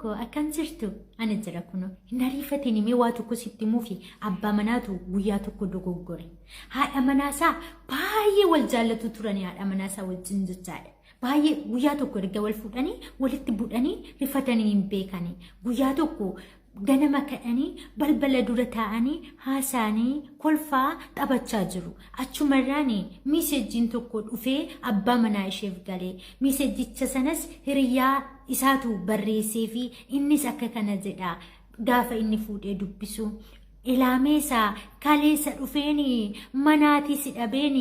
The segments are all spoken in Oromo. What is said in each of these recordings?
Koo akkam jirtu? Ani jira kuno. Hin ariifatiin mee waa tokko sitti mufi. Abbaa manaatu guyyaa tokko dogoggore. Haadha manaasaa baay'ee wal jaallatu turanii haadha manaasaa wajjin jechaadha. Baay'ee guyyaa tokko erga wal fuudhanii walitti budhanii rifatanii hin beekanii. Guyyaa tokko ganama kadhanii balbala dura taa'anii haasaanii kolfaa taphachaa jiru. Achumarraan miisejjiin tokko dhufee abbaa manaa isheef gale. Miisejjicha sanas hiriyaa isaatu barreessee fi innis akka kana jedha gaafa inni fuudhee dubbisu. Ilaameesa kaleessa dhufeen manaatii si dhabeen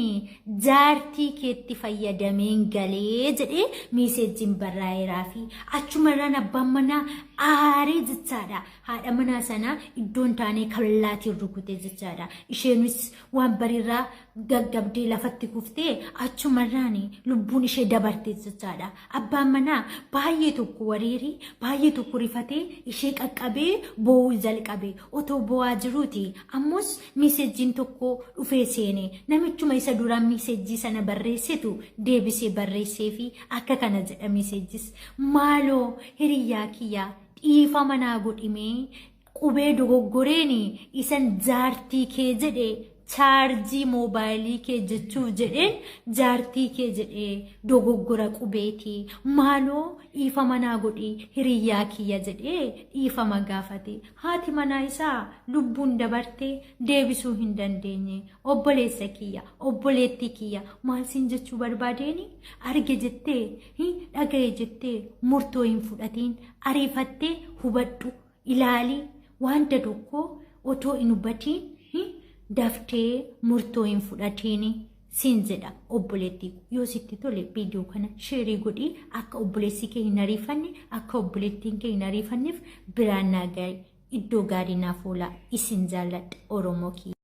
jaartii keetti fayyadameen galee jedhee miisejjiin barraa'eeraa fi achumarraan abbaan manaa aaree jechaadha. Haadha manaa sana iddoon taanee kallaatiin rukute jechaadha. Isheenis waan bariirraa gaggabdee lafatti kuftee achumarraan lubbuun ishee dabarte jechaadha. Abbaan manaa baay'ee tokko wareeree baay'ee tokko rifatee ishee qaqqabee boo'uu jalqabe. Otoo boo'aa jiruuti ammus miisejjiin tokko dhufee seene namichuma isa duraan miisejjii sana barreessetu deebisee barreessee fi akka kana jedha miisejjis maaloo hiriyyaa kiyyaa dhiifama naa godhimee Qubee dogoggoreen isan jaartii kee jedhe chaarjii moobaayilii kee jechuuf jedheen jaartii kee jedhe dogoggora qubeeti maaloo dhiifama naa godhi hiriyyaa kiyya jedhee dhiifama gaafate haati manaa isaa lubbuun dabarte deebisuu hin dandeenye obboleessa kiyya obboleettii kiyya maal siin jechuu barbaadeeni arge jettee hin dhagaye jettee murtoo hin fudhatiin ariifattee hubadhu ilaali wanta tokko otoo hin hubatiin daftee murtoo hin fudhatiin siin jedha obboleettii yoo sitti tole viidiyoo kana sheerii godhii akka obboleessi kee hin ariifanne akka obboleettiin kee hin ariifanneef biraan naa gahe iddoo gaarii naaf oolaa isin jaalladha oromoo kiyya.